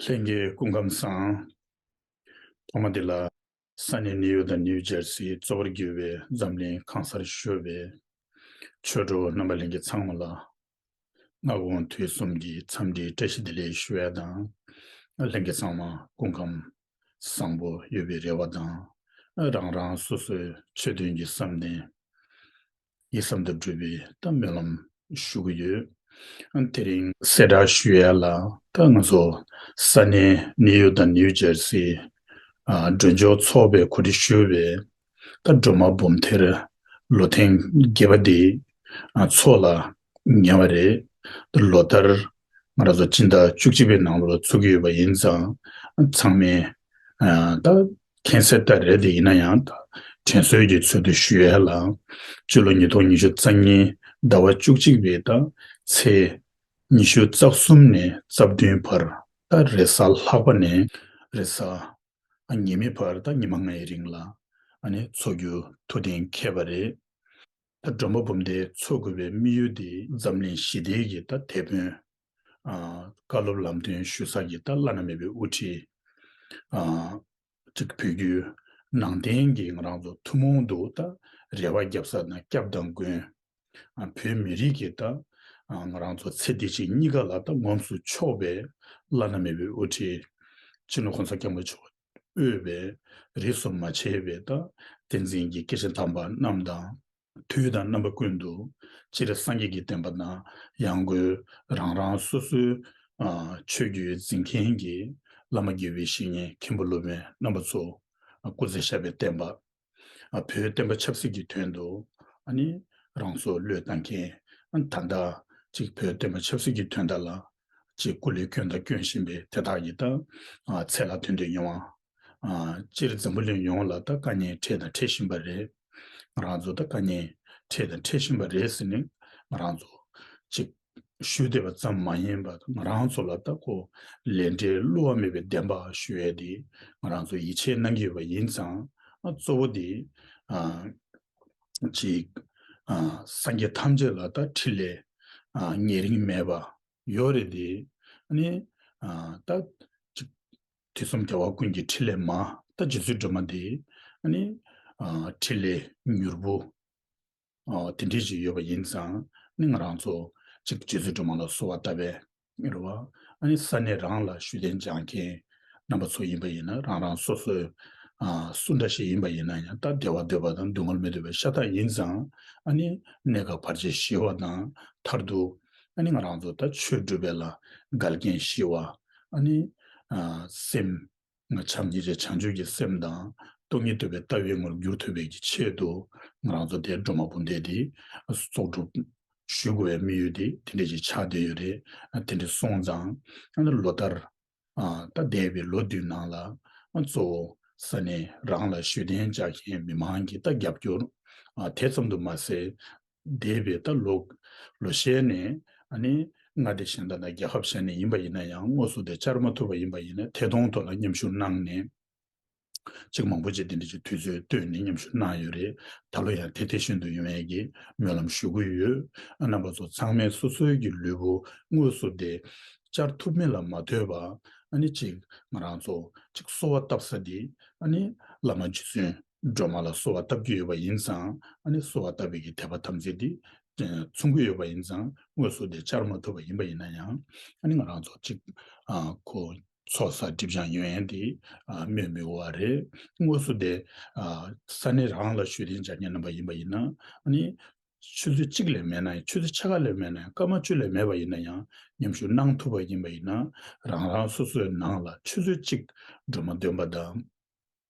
ལྷན་སྐྱེས་སྐུ་ཁམས་བཟང། ཐོག་མ་དེ་ལ། ས་གནས་ནེའུ་ཡོག་དང་ནེའུ་ཇར་སིའི་གཙོ་བོར་གྱུར་བའི་འཛམ་གླིང་ཁང་གསར་ཤོས་པའི་ཆོས་གྲོགས་རྣམ་པ་ལྷན་གྱིས་ཚང་མ་ལ། སྔ་དགོང་དུས་གསུམ་གྱི་འཚམས་འདྲིའི་བཀྲ་ཤིས་བདེ་ལེགས་ཞུ་བ་དང། ལྷན་སྐྱེས་ཚང་མ་སྐུ་ཁམས་བཟང་པོ་ཡོད་པའི་རེ་བ་དང། རང་རང་སོ་སོའི་ཆོས་དོན་གྱི་བསམ་གཏན། ཡིད་གསང་དུ་སྒྲུབ་པའི་གཏམ་སྨོན་ལམ་ཞུ་གི་ཡོད། དེ་རིང། གསལ་བསྒྲགས་ཞུ་ཡ་ལ་ད་ང་ཚོ་ས་གནས་ནེའུ་ཡོག་དང་ནེའུ་ཇར་སི། མགྲོན་ཆོག་ཚོགས་པའི་གོ་སྒྲིག་ཞུས་པའི་ད་སྒྲོལ་མ་འབུམ་ཐེར་ལོ་ཐེངས་བརྒྱད་པ་འདི་ཚོགས་ལ་ཉེ་བ་རེད། ལོ་ལྟར་ང་རང་ཚོ་སྤྱི་ཟླ་བཅུ་གཅིག་པའི་ནང་ལོ་ཚུགས་ཀྱི་ཡོད་པ་ཡིན་ཙང། ཚང་མས་ད་མཁྱེན་གསལ་ལྟར་རེད་དེ་ཡིན་ན་ཡང་ད་དྲན་གསོའི་གྱི་ཚུལ་དུ་ཞུ་ཡ་ལ། སྤྱི་ལོ་ཉིས་སྟོང་ཉི་ཤུ་རྩ་གཉིས་ཟླ་བ་བཅུ་གཅིག་པའི་ད་ཚེས་ཉི་ཤུ་རྩ་གསུམ་ནས་རྩ་བདུན་བར་ད་རེས་གཟའ་ལྷག་པ་ནས་རེས་གཟའ་ཉི་མའི་བར་ད་ཉི་མ་ལྔའི་རིང་ལ་ནས་འཚོགས་རྒྱུ་ཐུགས་གཏན་འཁེལ་བ་རེད། ད་སྒྲོན་པ་འབུམ་སྡེའི་འཚོ་དགོས་པའི་དམིགས་ཡུལ་འདི། འཛམ་གླིང་ཞི་བདེ་གི་ད་དེད་དཔོན། བཀའ་སློབ་ལམ་སྟོན་ཞུ་ས་གི་ད་བླ་ན་མེད་པའི་དབུ་ཁྲིད། གཅིག་བོད་བརྒྱུད་ནང་བསྟན་གྱི་ང་རང་ཚོ་ཐུན་མོང་དུ་ད་རེ་བ་བརྒྱབ་ས་ན་སྐྱབས་དང་མགོན། བོད་མི་རིགས་ཀྱི་ད་ང་རང་ཚོ་ཚེ་འདི་ཕྱི་གཉིས་ཀ་ལ་ད་ངོམས་སུ་ཆོག་པའི་བླ་ན་མེད་པའི་དབུ་ཁྲིད། སྤྱི་ལོ་ཁོང་ས་སྐྱབས་མགོན་མཆོག་དབུལ་བས་རིགས་སུ་མ་ཕྱེ་བའི་རྟགས། ཏིང་འཛིན་གྱི་སྐད་ཅིག་དམ་པ་རྣམས་དང། དུས་དང་རྣམ་པ་ཀུན་ཏུ་སྤྱིར་སངས་རྒྱས་ཀྱི་བསྟན་པ་དང་ཡང་སྒོས་རང་རང་སོ་སོའི་ཆོས་བརྒྱུད་འཛིན་མཁན་གྱི་བླ་མ་དགེ་བའི་བཤེས་གཉེན་མཁན་པོ་སློབ་དཔོན་རྣམ་པ་ཚོ་སྐུ་ཚེ་ཞབས་པའི་བསྟན་པ་ཨ་བོའི་བསྟན་པ་ཆབ་སྲིད་ཀྱི་དོན་དུ་ཨ་ནི་རང་སྲོག་བློས་བཏང་མཁན་ཨ་ད་ལྟ་གཅིག་བོད་བསྟན་པ་ཆབ་སྲིད་ཀྱི་དོན་དག་ལ་གཅིག་སྐུ་ལས་སྐྱོན་དང་སྐྱོན་བཞིན་པའི་དེ་དག་གི་ད་ཚད་ལ་དོན་དུ་ཡོང་བ་ཨ་སྤྱིར་འཛམ་བུ་གླིང་ཡོངས་ལ་ད་དཀའ་ཉེན་འཕྲད་དང་འཕྲད་བཞིན་པ་རེད་ང་རང་ཚོ་ད་དཀའ་ཉེན་འཕྲད་དང་འཕྲད་བཞིན་པ་རེད་ཟེར་ནས་ང་རང་ཚོ་གཅིག། ཞུས་བསྡད་པ་ཙམ་མ་ཡིན་པར་ང་རང་ཚོ་ལ་ལྟ་སྐོར་ལས་འབྲས་བསླུ་བ་མེད་པའི་བདེན་པ་ཞུ་ཡས་དེ་ང་རང་ཚོས་ཡིད་ཆེས་གནང་གི་ཡོད་པ་ཡིན་ཙང། གཙོ་བོ་དེ། གཅིག། སངས་རྒྱས་ཐམས་ཅད་ལ་ལྟ་ཁྲི་ལས། ཉེ་རིང་མེད་པ་ཡོད་རེད་དེ། ནི། ལྟ། གཅིག། དུས་གསུམ་རྒྱལ་བ་ཀུན་གྱི་ཁྲི་ལས་མ། ལྟ་རྗེ་བཙུན་སྒྲོལ་མ་དེ། ནི། ཁྲི་ལས་མྱུར་བུ། དེ་འདྲའི་ཞིག་ཡོད་པ་ཡིན་ཙང་ནི་ང་རང་ཚོ་གཅིག་རྗེ་བཙུན་སྒྲོལ་མ་ལ་གསོལ་བ་བཏབ་པས་རེད་བ། ཨ་ནི་ས་གནས་རང་ལ་ཞུ་རྟེན་སྦྱང་མཁན་རྣམ་པ་ཚོ་ཡིན་པ་ཡིན་ན་རང་རང་སོ་སོས་སུ་འདྲ་ཞིག་ཡིན་པ་ཡིན་ན་ཡང་སྟབས་བདེ་བ་འདོད་པ་དང་སྡུག་བསྔལ་མི་འདོད་པའི་ཤ་སྟག་ཡིན་ཙང་ཨ་ནི་གནད་འགག་བར་ཆད་ཞི་བ་དང་མཐར་ཐུག་ཨ་ནི་ང་རང་ཚོ་ད་ཆོས་སྒྲུབ་པའི་ལ་དགལ་རྐྱེན་ཞི་བ་ཨ་ནི་སེམས། ང་བྱམས་སྙིང་རྗེ་བྱང་ཆུབ་ཀྱི་སེམས་དང་སྟོང་ཉིད་འདོད་པའི་ལྟ་བའི་ངོར་འགྱུར་ཐུབ་པའི་ཀྱི་ཆེད་དུ་ང་རང་ཚོ་དེ་སྒྲོལ་མ་དཔུང་སྡེ་དེ་གསོག་སྒྲུབ་ཞུས་དགོས་བའི་དམིགས་ཡུལ་དེ་དེ་འདྲས་ཀྱི་ཆགས་བསྡད་ཡོད་རེད་དེ་འདྲས་སོང་ཙང་ལོ་ལྟར་ད་འདས་པའི་ལོ་དུས་ནང་ལ་གཙོ་བོ་ས་གནས་རང་ལ་ཞུས་གདན་རྒྱག་མཁན་མི་མང་གི་ལྟ་རྒྱབ་སྐྱོར་དེ་ཙམ་དུ་མ་ཟད། འདས་པའི་ད་ལོ་ལོ་ཤས་ནས་མངའ་སྡེ་གཞན་དང་ན་རྒྱལ་ཁབ་གཞན་ནས་ཡིན་པ་ཡིན་ན་ཡང་དངོས་སུ་དེ་བཅར་མ་ཐུབ་པ་ཡིན་པ་ཡིན་ན་ཐད་གཏོང་ཐོག་ལ་མཉམ་ཞུགས་གནང་ནས་ཅིག་མང་པོ་ཅིག་དེ་འདྲ་ཅིག་དུས་ཚོད་བཏོད་ནས་མཉམ་ཞུགས་གནང་ཡོད་རེད་ད་ལོ་ཡང་དེ་དེ་བཞིན་དུ་ཡོང་བའི་སྨོན་ལམ་ཞུ་གི་ཡོད་རྣམ་པ་ཚོ་ཚང་མས་སོ་སོའི་གི་ལུས་པོ་དངོས་སུ་དེ་བཅར་ཐུབ་མིན་ལ་མ་ལྟོས་པ་ཅིག་ང་རང་ཚོ་ཅིག་གསོ་བ་བཏབ་ས་དེ་བླ་མ་རྗེ་བཙུན། སྒྲོལ་མ་ལ་གསོལ་བ་བཏབ་ཀྱི་ཡོད་པ་ཡིན་ཙང་ཨ་ནེ་གསོལ་བ་བཏབ་བའི་གི་དད་པ་ཐམས་ཅད་དེ་མཚུངས་ཀྱི་ཡོད་པ་ཡིན་ཙང་དངོས་སུ་དེ་བཅར་མ་ཐུབ་པ་ཡིན་པ་ཡིན་ན་ཡང་ཨ་ནེ་ང་རང་ཚོ་གཅིག་གོ། ཚོགས་བསགས་སྒྲིབ་སྦྱངས་ཡོན་ཡན་དེ་སྨོས་མི་དགོས་བ་རེད། དངོས་སུ་དེ་ས་གནས་རང་ལ་ཞུས་ཏེ་འཇར་ཉན་རྣམ་པ་ཡིན་པ་ཡིན་ན་ཨ་ནེ། ཆུ་ཚོད་གཅིག་ལས་མེད་ན་ཡང་ཆུ་ཚོད་ཆ་ག་ལས་མེད་ན་ཡང་སྐར་མ་བཅུ་ལས་མེད་པ་ཡིན་ན་ཡང་མཉམ་ཞུགས་གནང་ཐུབ་པ་ཡིན་པ་ཡིན་ན་རང་རང་སོ་སོའི་ནང་ལ་ཆུ་ཚོད་གཅིག་སྒྲོལ་མ་འདོན་པ་དང།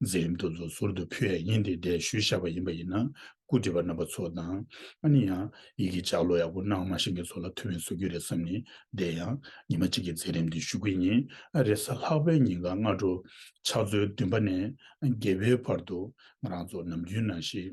མཛད་ཡུམ་དུ་ཚོགས་ཟུར་དུ་ཕུལ་བས་ཉིན་དེའི་འགྲེལ་བཤུས་བཞག་པ་ཡིན་པ་ཡིན་ན་སྐུ་བགྲེས་པ་རྣམ་པ་ཚོ་དང། ཨ་ནི་ཡང་ཡིག་གི་ལྕགས་ལོ་ཡག་པོ་གནང་མ་ཤེས་མཁན་ཚོ་ལ་ཐུ་བས་བཟོ་རྒྱུ་རེད་བསམ་ནས་བསྡད་ཡང། ཉི་མ་གཅིག་གི་མཛད་རིམ་འདི་བཞུགས་དགོས་ཉིན་ཨ་རེ་ས་ལྷག་པའི་ཉིན་གང་སྔ་དྲོ། ཕྱག་ཚོད་བདུན་པ་ནས་བརྒྱད་པའི་བར་དུ་ང་རང་ཚོ་ནམ་རྒྱུན་ནང་བཞིན།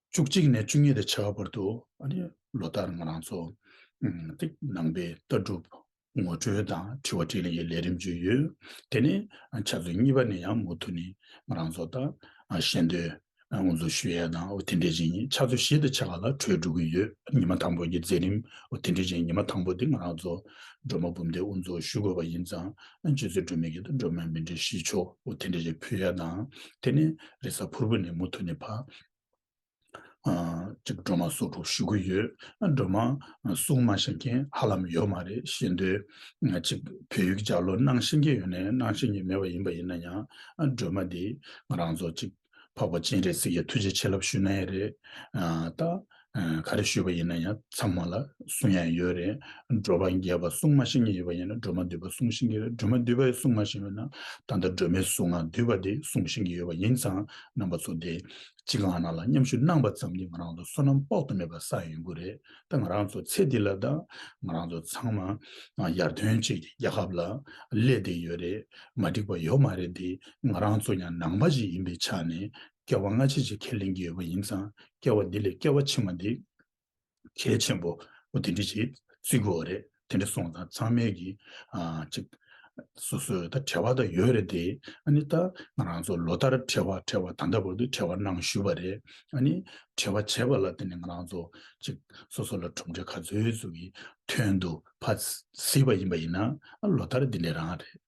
བཅུ་གཅིག་ནས་བཅུ་གཉིས་དང་བྱ་བ་བར་དུ་ལོ་ལྟར་ང་རང་ཚོ་ནང་པའི་ལྟ་གྲུབ་ངོ་སྤྲོད་དང་དྲི་བ་དྲིས་ལན་གྱི་ལས་རིམ་བརྒྱུད་ཡོད། དེ་ནས་ཆ་ཚོད་གཉིས་པ་ནས་ཡང་མུ་མཐུད་ནས་ང་རང་ཚོ་ལྟ་བཤད་འདོན་དབུ་འཛུགས་ཞུ་ཡས་དང་དེ་འབྲེལ་ཅན་ཆ་ཚོད་བཞི་དང་བྱ་བ་ལ་གྲོས་བསྒྲུབ་ཀྱི་ཡོད། ཉི་མ་དང་པོ་ཀྱི་མཛད་རིམ་དེ་འབྲེལ་ཅན་ཉི་མ་དང་པོ་དེ་ང་རང་ཚོ་སྒྲོལ་མ་འབུམ་སྡེས་དབུ་འཛུགས་ཞུ་དགོས་པ་ཡིན་ཙང་སྤྱི་ཚོས་སྒྲོལ་མའི་གི་དང་སྒྲོལ་མའི་མི་འབྲེལ་གཞིས་ཆོག་དེ་འབྲེལ་ཅན་ཕུལ་ཡས་དང་དེ་ནས་རེས་གཟའ་ཕུར་བུ་ནས་མུ་མཐུད་ནས་ཕ། སྒྲོལ་མ་སོགས་དྲུག་ཞུ་གི་ཡོད། སྒྲོལ་མ། གསུང་མ་བཤད་མཁན་ཧ་ལམ་ཡོད་མ་རེད་ཤེས་འདོད། གཅིག་བོད་ཡིག་སྦྱར་ལོ་སྣང་ཤེས་མཁན་ཡོད་ནས་སྣང་ཤེས་མཁན་མེད་པ་ཡིན་པ་ཡིན་ན་ཡང། སྒྲོལ་མ་འདི་ང་རང་ཚོ་གཅིག་འཕགས་པ་སྤྱན་རས་གཟིགས་ཀྱི་ཐུགས་རྗེ་ཆེ་ལབ་ཞུ་ན་ཡག་རེད། ད། ག་རེ་ཞུས་པ་ཡིན་ན་ཡང་ཚང་མ་ལ་གསུང་ཡ་ཡོད་རེད། སྒྲོལ་མ་རྒྱལ་བ་གསུང་མ་ཤེས་ངེས་ཡོད་པ་ཡིན་ན་སྒྲོལ་མ་འདུས་པ་གསུང་ཤེས་ངེས་རེད་སྒྲོལ་མ་འདུས་པ་གསུང་མ་ཤེས་པ་ཡིན་ན་ད་ལྟ་སྒྲོལ་མའི་གཟུགས་ངག་འདུས་པ་དེ་གསུང་ཤེས་ངེས་ཡོད་པ་ཡིན་ཙང་རྣམ་པ་ཚོ་དེ་གཅིག་གང་ན་ལ་མཉམ་ཞུགས་གནང་པ་ཙམ་གྱིས་ང་རང་ཚོ་བསོད་ནམས་དཔག་ཏུ་མེད་པ་བསགས་ཡོད་དགོས་རེད་ད་ང་རང་ཚོ་ཚེ་འདི་ལ་ད་ང་རང་ཚོ་ཚང་མ་ཡར་ཐོན་བྱེད་ཀྱི་རྒྱལ་ཁབ་ལ་སླེབས་བསྡད་ཡོད་རེད་མ་འགྲིག་པ་ཡོད་མ་རེད་དེ་ང་རང་ཚོ་ཡང་ནང་པ་ཞིག་ཡིན་པའི་ཆ་ནས་སྐྱེ་བ་སྔ་ཕྱི་ཅིག་ཁས་ལེན་གྱི་ཡོད་པ་ཡིན་ཙང་སྐྱེ་བ་འདི་ལས་སྐྱེ་བ་ཕྱི་མ་འདི། གལ་ཆེན་པོ། འོ་དེ་འདྲི་ཅིག། བརྩི་གོ་རེད། དེ་འདྲི་སོང་ཙང་ཚང་མས་ཀྱི། ཅིག། སོ་སོས་ད་བྲལ་བ་ད་ཡོད་རེད་དེ། ཨ་ནི་ད། ང་རང་ཚོ་ལོ་ལྟར་བྲལ་བ་བྲལ་བ་ད་ལྟ་བར་དུ་བྲལ་བ་གནང་ཞུས་པ་རེད། ཨ་ནི། བྲལ་བ་བྱས་པ་ལ་བརྟེན་ནས་ང་རང་ཚོ། ཅིག། སོ་སོ་ལ་གྲུབ་འབྲས་ག་ཚོད་ཚོད་ཀྱི། ཐོན་དུ། བ། སྲིད་པ་ཡིན་པ་ཡིན་ན། ཨ་ལོ་ལྟར་འདི་འདྲའི་རང་རེད།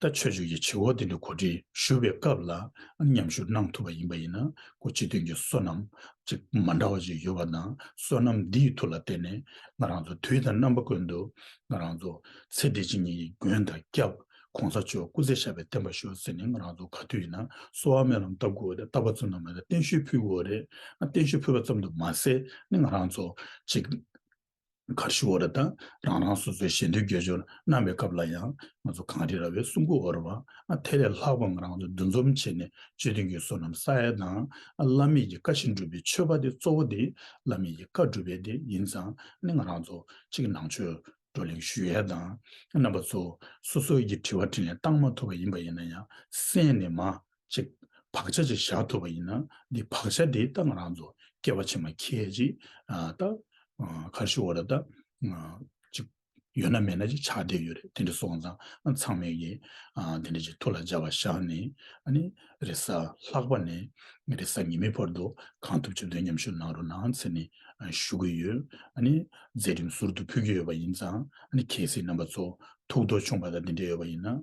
ལྟ་ཆོས་ཆོས་ཀྱི་བྱེད་འོག་དེ་ལས་གོ་སྒྲིག་ཞུ་བའི་སྐབས་ལ་མཉམ་ཞུགས་གནང་ཐུབ་པ་ཡིན་པ་ཡིན་ན་གོ་སྤྱི་དོན་གྱི་སོ་ནམ་ཅིག་མ་འདྲ་བ་ཅིག་ཡོད་པ་དང་སོ་ནམ་འདིའི་ཐུགས་ལ་བརྟེན་ནས་ང་རང་ཚོ་དུས་དང་རྣམ་པ་ཀུན་ཏུ་ང་རང་ཚོ་ཚེ་འདི་ཕྱི་གཉིས་ཀྱི་མགོན་དང་སྐྱབས ྋགོང་ས་མཆོག་སྐུ་ཚེ་ཞབས་པད་བརྟན་པ་ཞུ་ཟེར་ནས་ང་རང་ཚོ་ག་དུས་ཡིན་ན་གསོ་བ་སྨོན་ལམ་བཏབ་དགོས་རེད་བཏབ་པ་ཙམ་དུ་མ་ཟད་བརྟན་བཞུགས་ཕུལ་དགོས་རེད་བརྟན་བཞུགས་ཕུལ་བ་ཙམ་དུ་མ་ཟད་ནི་ང་རང་ཚོ་ཅིག་གར་ཤི་བོ་ར་དང་རང་རང་སོ་སོའི་ཞེ་འདོད་རྒྱལ་སྦྱོར་གནང་བའི་སྐབས་ལ་ཡང་ང་ཚོ་གངས་རི་ར་བའི་སྲུང་སྐུ་འོར་བ་དེ་ལས་ལྷག་པའང་རང་ཚོ་འདུ་འཛོམས་བྱས་ནས་སྤྱི་དོན་གྱི་བསོད་ནམས་ས་ཡ་དང་བླ་མེད་ཀྱི་བཀའ་བཞིན་སྒྲུབ་པའི་མཆོད་པ་དེ་གཙོ་བོ་དེ་བླ་མེད་ཀྱི་བཀའ་སྒྲུབ་པའི་དེ་ཡིན་ཙང་ནི་ང་རང་ཚོ་གཅིག་ནང་ཆོས་བགྲོ་གླེང་ཞུ་ཡས་དང་རྣམ་པ་ཚོ་སོ་སོའི་ཀྱི་དྲི་བ་དྲིས་ལན་བཏང་མ་ཐུབ་པ་ཡིན་པ་ཡིན་ན་ཡང་གསན་ནས་མ་ཅིག། བག་ཆགས་ཅིག་བཞག་ཐུབ་པ་ཡིན་ན་འདི་བག་ཆགས་དེའི་རྟགས་ང་རང་ཚོ་སྐྱེ་བ་ཕྱི་མ་ཁྱེད་ཅིག། རྟགས། ཁར་ཤི་འོ་ར་ད། ཅིག། ཡོད་ན་མེད་ན་ཅིག་ཆགས་བསྡད་ཡོད་རེད་དེ་འདྲ་སོང་ཙང་ཚང་མས་ཀྱི། དེ་འདྲ་ཅིག་ཐུགས་ལ་འཇགས་པ་བཞག་ནས་ནི། རེ་གཟའ་ལྷག་པ་ནས་རེ་གཟའ་ཉི་མའི་བར་དུ་གང་ཐུབ་བྱ་འདོད་མཉམ་ཞུགས་གནང་རོགས་གནང་ཚེ་ནི་ཞུ་གི་ཡོད། ནི། མཛད་རིམ་ཟུར་དུ་ཕུལ་གྱི་ཡོད་པ་ཡིན་ཙང་ནི་གལ་སྲིད་རྣམ་པ་ཚོ་ཐུགས་དོགས་ཆུང་བ་དང་དེ་འདྲ་ཡོད་པ་ཡིན་ན།